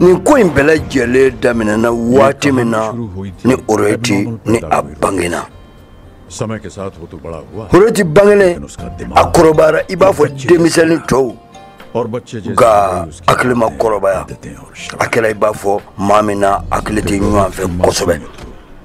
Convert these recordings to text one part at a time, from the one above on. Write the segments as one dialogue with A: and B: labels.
A: nin ko in bɛɛ lajɛlen daminɛna waati min na ni orohiti ni a bangena
B: orohiti
A: bangelen a kɔrɔbayara i b'a fɔ denmisɛnnin
B: tɔw nka hakili ma
A: kɔrɔbaya a kɛra i b'a fɔ maa min n'a hakili tɛ ɲɔgɔn fɛ kosɛbɛ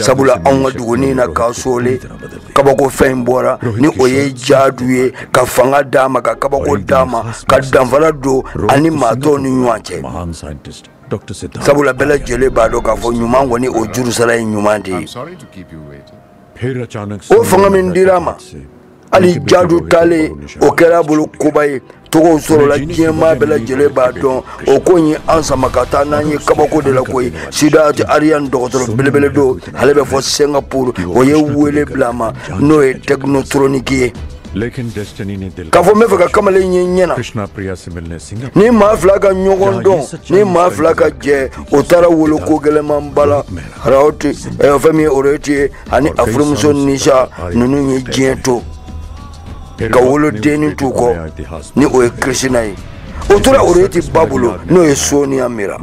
A: sabula anw ka dugunin na kasole kabako fɛn bɔra ni o ye jaadu ye ka fanga d'a ma ka kabako d'a ma ka danfara don a ni maa tɔw ni ɲɔgɔn
B: cɛ sabula bɛɛ lajɛlen
A: b'a dɔn k'a fɔ ɲuman kɔni o jurusara ye ɲuman de ye
B: o fanga min dira a
A: ma hali jadu taalen o kɛra a bolo koba ye tɔgɔ sɔrɔla diɲɛ maa bɛɛ lajɛlen b'a dɔn o ko in ye an sama ka taa n'an ye kabako de la koyi sidat ariyan dɔgɔtɔrɔ belebele don ale bɛ fo singapore o ye wele bila a ma n'o ye tɛkinotoroniki
B: ye k'a fɔ n b'a fɛ ka kamalen
A: ye ɲɛ
B: na ni maa fila ka ɲɔgɔn
A: dɔn ni maa fila ka jɛ o taara wolo ko gɛlɛmanba la fɛn min ye orohiti ye ani a furumuso nisha ninnu ye diɲɛ to ka wolodennin t'u kɔ ni o ye krishna ye o tora orohiti ba bolo n'o ye soniya mira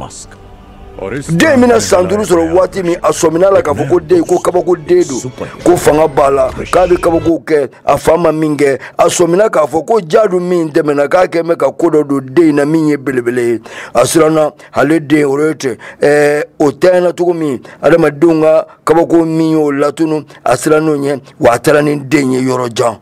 B: den bɛna san duuru sɔrɔ
A: waati min a sɔmina a la k'a fɔ ko den ko kabako den don ko fanga b'a la k'a bɛ kabakow kɛ a fa ma min kɛ a sɔmina k'a fɔ ko jaadu min tɛmɛna k'a kɛ bɛ ka ko dɔ don den in na min ye belebele ye a siranna ale den orohiti ɛɛ o tiɲɛna cogo min adamadenw ka kabako min y'o latunu a siranna o ɲɛ wa a taara ni den ye yɔrɔ jan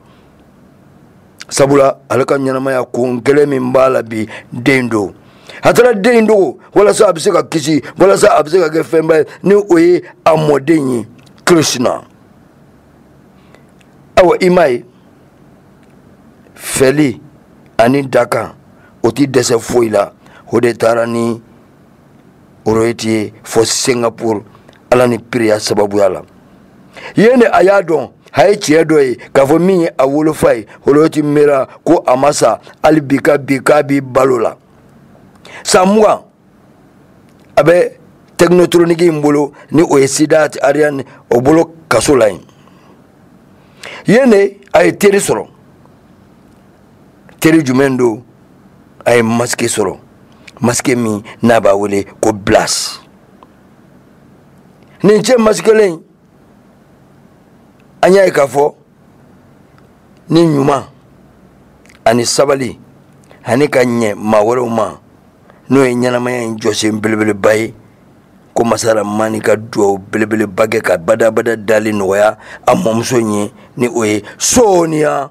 A: sabula ale ka ɲɛnamaya kun kelen min b'a la bi den don a taara den in dogo walasa a bɛ se ka kisi walasa a bɛ se ka kɛ fɛnba ye ni o ye a mɔden ye krishna awa i m'a ye fɛli ani dakan o ti dɛsɛ foyi la o de taara ni orohiti ye fo singapore ala ni piriya sababuya la yen de a y'a dɔn a ye tiɲɛ dɔ ye k'a fɔ min ye a wolofa ye orohiti mera ko a ma sa hali bi k'a bi k'a bi balo la san mugan a bɛ tɛkinotroniki in bolo ni o ye sidat ariyan o bolo kaso la yen yen de a ye teri sɔrɔ teri jumɛn don a ye masike sɔrɔ masike min n'a b'a wele ko blas nin cɛ masikelen an y'a ye k'a fɔ ni ɲuman ani sabali ani ka ɲɛ maa wɛrɛw ma n'o ye ɲɛnamaya in jɔsen belebeleba ye ko masa ramani ka duwawu belebeleba kɛ ka badabada dali nɔgɔya a mɔmuso ye ni o ye soniya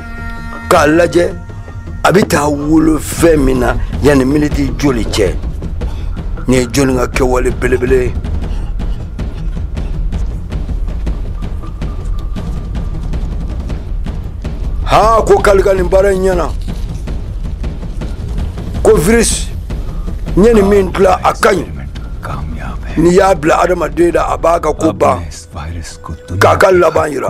A: k'a lajɛ a bɛ taa wolo fɛn min na yanni miniti joli cɛ nin ye jɔni ka kɛwale belebele ye haa ko kali ka nin baara in ɲɛna ko virus n ye nin min dilan a ka ɲi n'i y'a bila adamaden da a b'a ka ko ban k'a ka laban yira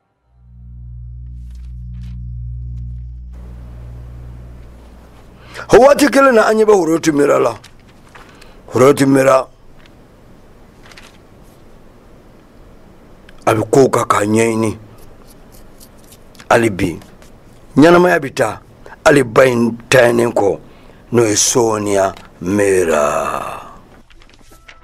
A: o waati kelen na an ɲɛ bɛ horoti mira la horoti mira a bɛ kow kan k'a ɲɛɲini hali bi ɲɛnamaya bɛ taa hali ba in taalen kɔ n'o ye sɔɔniya mira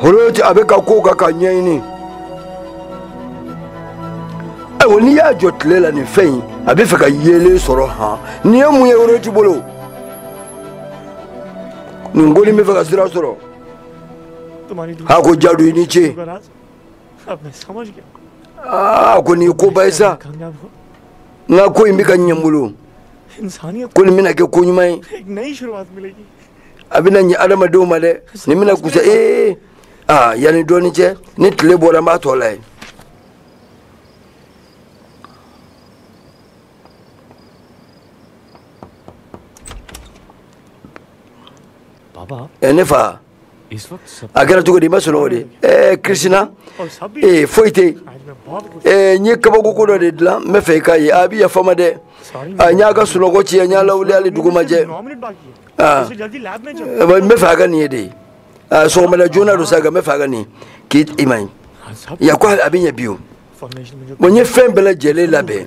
A: horoti a b'a ka kow kan k'a ɲɛɲini ayiwa n'i y'a jɔ tile la nin fɛn in a bɛ fɛ ka yeelen sɔrɔ han nin ye mun ye horoti bolo nin ko nin bɛ fɛ ka sira sɔrɔ a ko jadu i ni ce a ko nin ye koba ye sa n ka ko in bɛ ka ɲɛ n bolo ko nin bɛna kɛ ko ɲuman ye a bɛna ɲɛ adamadenw ma dɛ nin bɛna kusa ee aa yanni dɔɔni cɛ ni tile bɔra n b'a tɔ lajɛ
C: baba ɛ ne fa a kɛra cogo di i ma sunɔgɔ
A: de ɛɛ kirisina ee foyi tɛ yen ɛɛ n ye kabako ko dɔ de dilan n bɛ fɛ i k'a ye a bɛ yafa n ma dɛ a n y'a ka sunɔgɔ tiɲɛ n y'a lawuli hali dugu ma jɛ
C: aa n bɛ fɛ a ka nin ye
A: de aa sɔgɔmada joona don sa nka n bɛ fɛ a ka nin k'i i ma ye yan ko a bɛ ɲɛ bi o bon n
C: ye fɛn bɛɛ lajɛlen
A: labɛn.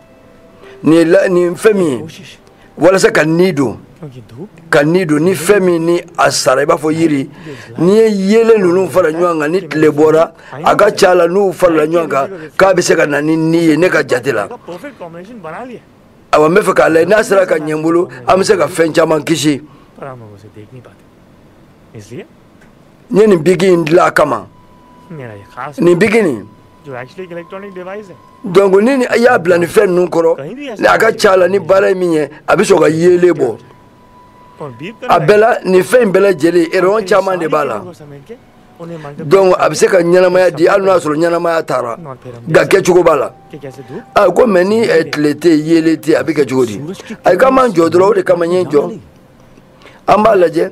A: nin la nin fɛn min ye walasa ka ni don ka
C: ni don ni fɛn
A: min ni a sara i b'a fɔ yiri n'i ye yeelen ninnu fara ɲɔgɔn kan ni tile bɔra a ka ca la n'u farala ɲɔgɔn kan k'a bɛ se ka na ni ni ye ne ka jate la
C: awa n bɛ fɛ k'a lajɛ
A: n'a sera ka ɲɛ n bolo an bɛ se ka fɛn caman kisi
C: n
A: ye nin biki in dilan a
C: kama nin biki nin donc ni i
A: y'a bila nin fɛn ninnu kɔrɔ ni a ka ca la nin baara ye min ye a bɛ sɔn ka yeelen bɔ
C: a bɛɛ la nin fɛn in bɛɛ
A: lajɛlen rayon caman de b'a la donc a bɛ se ka ɲɛnamaya di hali n'o y'a sɔrɔ ɲɛnamaya taara nka kɛcogo b'a la a
C: ko mais ni eh,
A: tile tɛ yen yeelen tɛ yen a bɛ kɛ cogo di ayi k'an b'an jɔ dɔrɔn o de kama n ye n jɔ an b'a lajɛ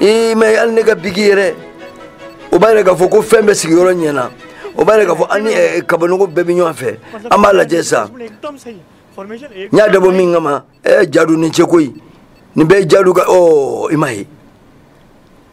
A: i ma hali ne ka biki yɛrɛ o b'a yira k'a fɔ ko fɛn bɛɛ sigiyɔrɔ ɲɛna o b'a yira k'a fɔ an ni eh, kabanɔgɔ bɛɛ bɛ ɲɔgɔn fɛ an b'a lajɛ
C: sa n y'a dabɔ min
A: kama ɛ eh, jadu i ni ce koyi nin bɛɛ ye jadu ka ɔ oh, i m'a ye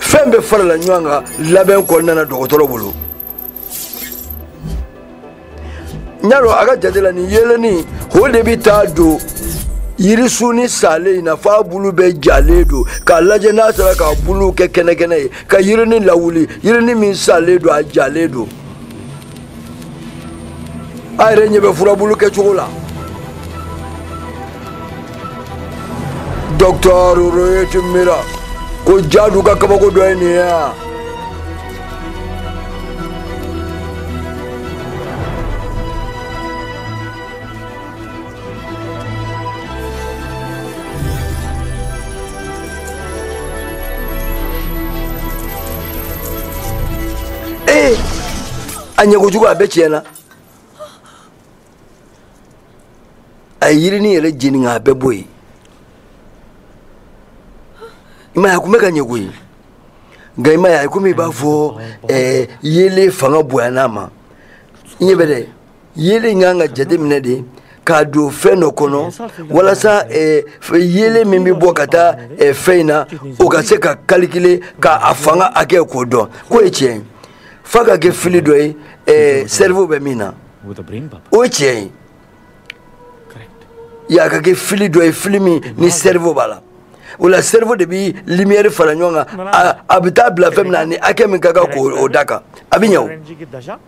A: fɛn bɛɛ farala ɲɔgɔn kan labɛn kɔnɔna na dɔgɔtɔrɔ bolo n y'a dɔn a ka jate la nin yeelen nin o de bɛ taa don yirisunnin salen in na f'a bulu bɛɛ jalen don k'a lajɛ n'a sera k'a bulu kɛ kɛnɛkɛnɛ ye ka yirini lawuli yirini min salen don a jalen don a yɛrɛ ɲɛ bɛ furabulu kɛcogo la docteur rohit mehra ko jadu ka kabako dɔ ye nin ye yan ee a ɲɛ kojugu a bɛɛ tiɲɛna a ye yirini yɛrɛ jeni nka a bɛɛ bɔ yen i m'a ye a tun bɛ ka ɲɛ koyi nka i m'a ye a ye komi i b'a fɔ ɛɛ yeelen fanga bonyana a ma i ɲɛ bɛ dɛ yeelen kan ka jateminɛ de k'a don fɛn dɔ kɔnɔ walasa eh, yeelen min bɛ bɔ ka taa eh, fɛn in na o ka se k'a calculer ka a fanga hakɛ k'o dɔn k'o ye tiɲɛ ye f'a ka kɛ fili dɔ ye eh, cerveau bɛ min na
C: o ye tiɲɛ
A: ye y'a ka kɛ fili dɔ ye fili min ni cerveau b'a la o la cerveau de bɛ lumière fara ɲɔgɔn kan a bɛ taa bila fɛn min na ni hakɛ min ka kan k'o da kan a bɛ ɲɛ o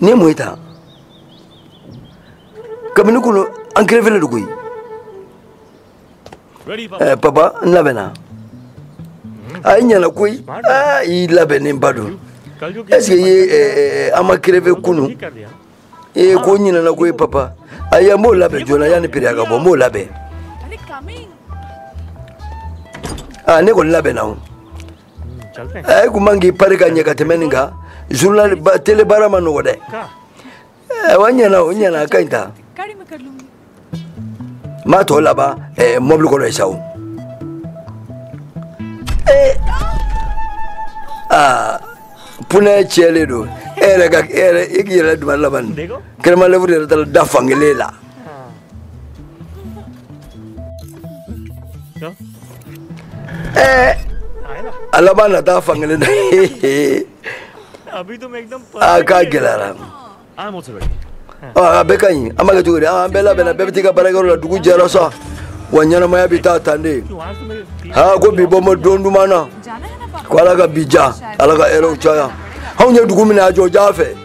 A: nin ye mun ye tan kabini kunu an kerefelen don koyi
C: eh, papa n
A: labɛnna a i ɲɛna koyi ah, i labɛnnenba don est ce
C: que i ye eh,
A: eh, an ma kerefe
C: kunu i ye ko ɲinana
A: koyi papa ayi an b'o labɛn joona yanni priya ka bɔ n b'o labɛn ah, ne kɔni labɛnna o
C: e kun man k'i pari ka
A: ɲɛ ka tɛmɛ nin kan journal tele baara man nɔgɔ
C: dɛ wa ɲɛna
A: o ɲɛna a ka ɲi tan n b'a tɔ laban mɔbili kɔnɔ ye sa o aa pneu tiɲɛlen don e yɛrɛ ka e yɛrɛ e k'i yɛrɛ dun ma laban nin crème à
C: lèvres yɛrɛ taara
A: da fankelen la
C: Eh, a laban nata fankelen
A: na
C: a k'a
A: gɛlɛyara
C: a bɛɛ ka
A: ɲi an b'a kɛ cogo di an bɛɛ labɛnna bɛɛ bɛ t'i ka baarakɛyɔrɔ la dugu jɛra sa wa ɲɛnamaya bɛ taa tan
C: de aa ko bi bɔnbɔ
A: don duman na ko ala
D: ka bi diya
A: ala ka hɛrɛw caya anw ye dugu min na a jɔ ja fɛ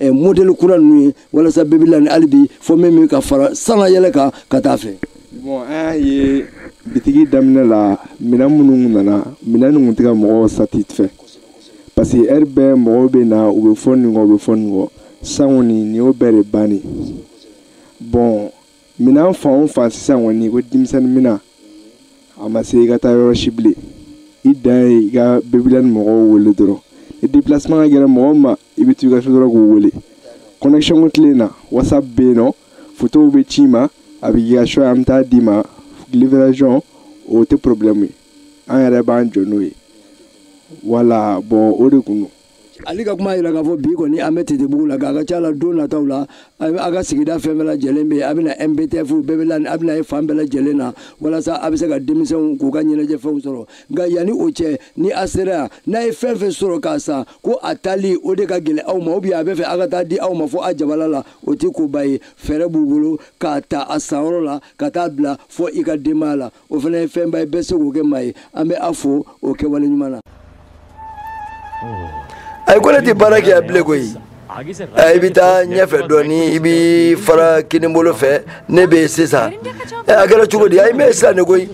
A: eh, modeli kura ninnu ye walasa babyland hali bi fɔ min bɛ ka fara sanga yɛlɛ kan ka taa a fɛ. bɔn an
E: y'a ye bitigi daminɛ la minɛn minnu nana minɛn ninnu tɛ ka mɔgɔw satisfait parce que heure bɛɛ mɔgɔw bɛ na u bɛ fɔ nin kɔ u bɛ fɔ nin kɔ sisan kɔni nin y'o bɛɛ de banni bɔn minɛn fan o fan sisan kɔni ko denmisɛnnin minɛn a ma se i ka taa yɔrɔ si bilen i dan ye i ka babyland mɔgɔw wele dɔrɔn ni déplacement ka gɛlɛn mɔgɔ ma i bɛ t'i ka so dɔrɔn k'u wele connection ko tile in na whatsapp bɛ yen nɔ fotow bɛ c'i ma a bɛ k'i ka choix ye an bɛ taa d'i ma livraison o tɛ problème ye an yɛrɛ b'an jɔ n'o ye voilà bɔn o de kun don ale ka kuma
A: yira k'a fɔ bi kɔni an bɛ titibugu la k'a ka ca la don nataw la a ka sigida fɛn bɛɛ lajɛlen bɛ a bɛna mptf bɛɛ bɛ a bɛna ye fan bɛɛ lajɛlen na walasa a bɛ se ka denmisɛnw k'u ka ɲɛnajɛfɛnw sɔrɔ nka yanni o cɛ ni a sera yan n'a ye fɛn fɛn sɔrɔ k'a san ko a tali o de ka gɛlɛn aw ma ou bien a bɛ fɛ a ka taa di aw ma fo a jabala la o tɛ koba ye fɛɛrɛ b'u bolo k'a ta a sanyɔrɔ la ka taa bila fo i ka denbaya la o fana ye fɛnba ye bɛɛ se k'o kɛ maa ye an bɛ a fo o kɛwale ɲuman na ayi ko ne tɛ baara kɛ yan bilen koyi i bɛ taa ɲɛfɛ dɔɔnin i bɛ fara kinibolo fɛ ne bɛ yen sisan a kɛra cogo di ayi n bɛ yen sisan de koyi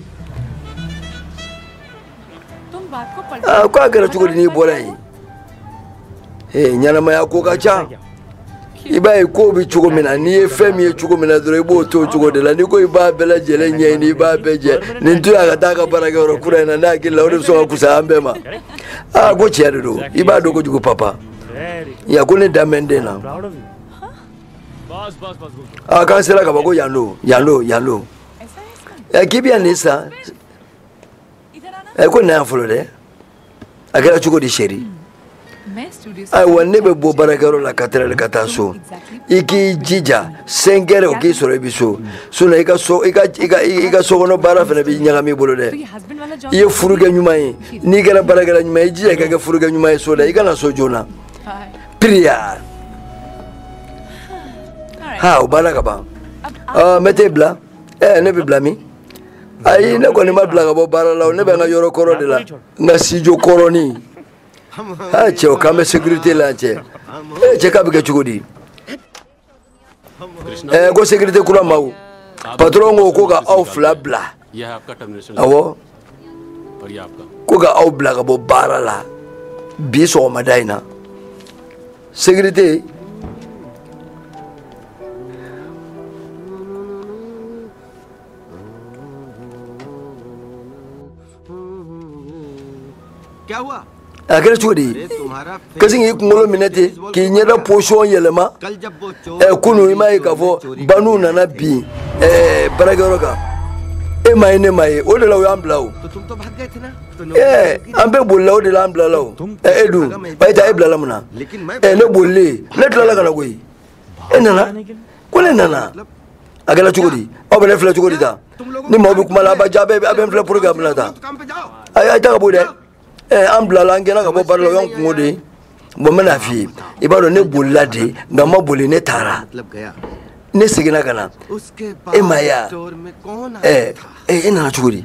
D: ko a kɛra cogo di
A: n'i bɔra yen ɲɛnamaya ko ka ca. i b'a ye kow bɛ cogo min na n'i ye fɛn min ye cogo min na dɔrɔn i b'o to o cogo de la n'i ko i b'a bɛɛ lajɛlen ɲɛɲini i b'a bɛɛ jɛ nin to yan ka taa ka baarakɛyɔrɔ kura in na ne hakili la o de bɛ sɔn ka fusa an bɛɛ ma aa ko tiɲɛ de don i b'a dɔn kojugu papa ya ko ne dalen bɛ n den
C: na
A: aa k'an sera ka ban ko yan don yan don yan don ɛ k'i bɛ yan nin san ɛ ko na yan fɔlɔ dɛ a kɛra cogo di chéri ayiwa ne bɛ bɔ baarakɛyɔrɔ la quatre heures ka taa so i k'i jija cinq heures o k'i sɔrɔ i bɛ so sinɔn i ka so i ka i ka i ka sokɔnɔ baara fana bɛ ɲagami i bolo dɛ i ye furukɛ ɲuman ye n'i kɛra baarakɛla ɲuman ye i jija i ka kɛ furukɛ ɲuman ye so la i ka na so joona priya ha o banna ka ban n bɛ t'e bila ɛɛ ne bɛ bila min. ayi ne kɔni ma bila ka bɔ baara la ne bɛ n ka yɔrɔ kɔrɔ de la n ka sijo kɔrɔnin ha cɛ o k'an bɛ sécurité la cɛ ee cɛ k'a bɛ kɛ cogo di ɛɛ ko sécurité kura ma o patron ko ko ka aw fila bila
F: awɔ ko ka aw bila ka bɔ
A: baara la bi sɔgɔmada in na sécurité
G: a kɛra cogo di
A: e kasi k'i kunkolo minɛ ten k'i ɲɛda position yɛlɛma
G: kunu i m'a ye k'a fɔ
A: bandiw nana bin baarakɛyɔrɔ kan e ma ye ne ma ye o de la o y'an bila
G: o an bɛɛ bolila
A: o de la an bilala o e dun bayita e bilala mun na ne
G: bolilen ne
A: tilala ka na koyi e nana ko ne nana a kɛra cogo di aw bɛ ne filɛ cogo di tan ni maaw bɛ kuma la a bɛ ja bɛɛ a bɛ n filɛ puruke a bila ta a ye
G: taa ka bɔ dɛ
A: ɛ an bilala an gɛnna ka bɔ baara la o y'an kunko de ye bɔn n bɛna f'i ye i b'a dɔn ne bolila de nka n ma boli ne
G: taara ne seginna ka
A: na e ma
G: ye wa ɛ e nana cogo di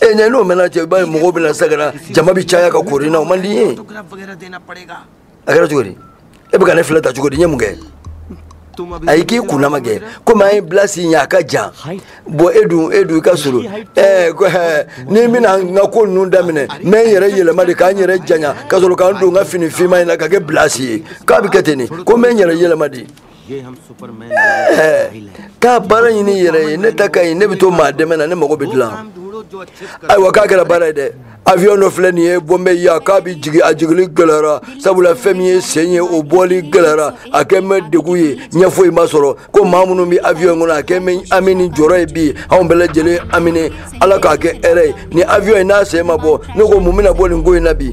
A: e ɲɛ n'o mɛnna cɛ i b'a ye mɔgɔw bɛna n sɛgɛrɛ jama bɛ caya ka koori n na o man di n
G: ye a kɛra cogo di
A: e bɛ ka ne filɛ tan cogo di n ye mun kɛ
G: ayi k'i kundama kɛ
A: komi an ye bilasi ye a ka jan bɔn e dun e dun i ka surun ɛɛ ni n bɛna n ka ko ninnu daminɛ n bɛ n yɛrɛ yɛlɛma de ka n yɛrɛ janya ka sɔrɔ ka n don n ka fini finma in na ka kɛ bilasi ye k'a bɛ kɛ ten de ko n bɛ n yɛrɛ yɛlɛma de
G: ka
A: baara ɲini i yɛrɛ ye ne ta ka ɲi ne bɛ to maa dɛmɛ na ne mago bɛ
G: dilan ayiwa k'a kɛra baara ye dɛ
A: avion dɔ filɛ nin ye bɔnbɛ yan k'a bɛ jigin a jigili gɛlɛyara sabula fɛn min ye sen ye o bɔli gɛlɛyara a kɛn bɛ degun ye ɲɛ foyi ma sɔrɔ ko maa minnu bɛ avion kɔnɔ a kɛn bɛ hami ni jɔrɔ ye bi anw bɛɛ lajɛlen haminen ala k'a kɛ hɛrɛ ye nin avion in n'a sen ma bɔ ne ko mun bɛna bɔ nin ko in na bi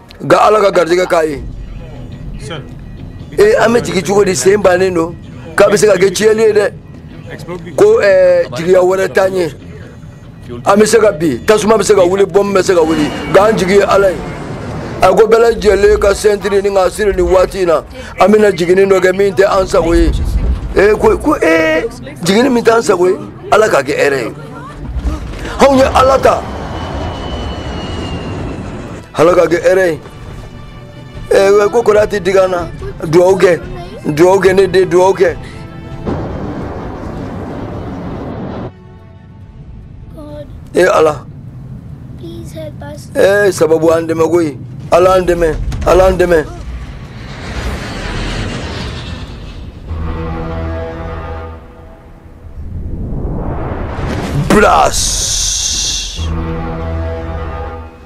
A: nka ala ka garijɛgɛ k'a
C: ye ee
A: an bɛ jigin cogo di sen bannen don k'a bɛ se ka kɛ tiɲɛli ye dɛ ko eh, jigiya wɛrɛ t'an ye an bɛ se ka bin tasuma bɛ se ka wuli bɔmu bɛ se ka wuli nka an jigi ye ala ye a ko bɛɛ lajɛlen ka sɛntiri ni ka siri nin waati in na an bɛna jiginni dɔ kɛ min tɛ an sago ye ee ko ko ee jiginni min tɛ an sago ye ala k'a kɛ hɛrɛ ye anw ye ala ta ala k'a kɛ hɛrɛ ye ɛɛ ko kɔrɔ tɛ digi an na dugawu kɛ dugawu kɛ ne den dugawu
H: kɛ. e ala ee sababu an
A: dɛmɛ koyi ala an dɛmɛ ala an dɛmɛ. Blast!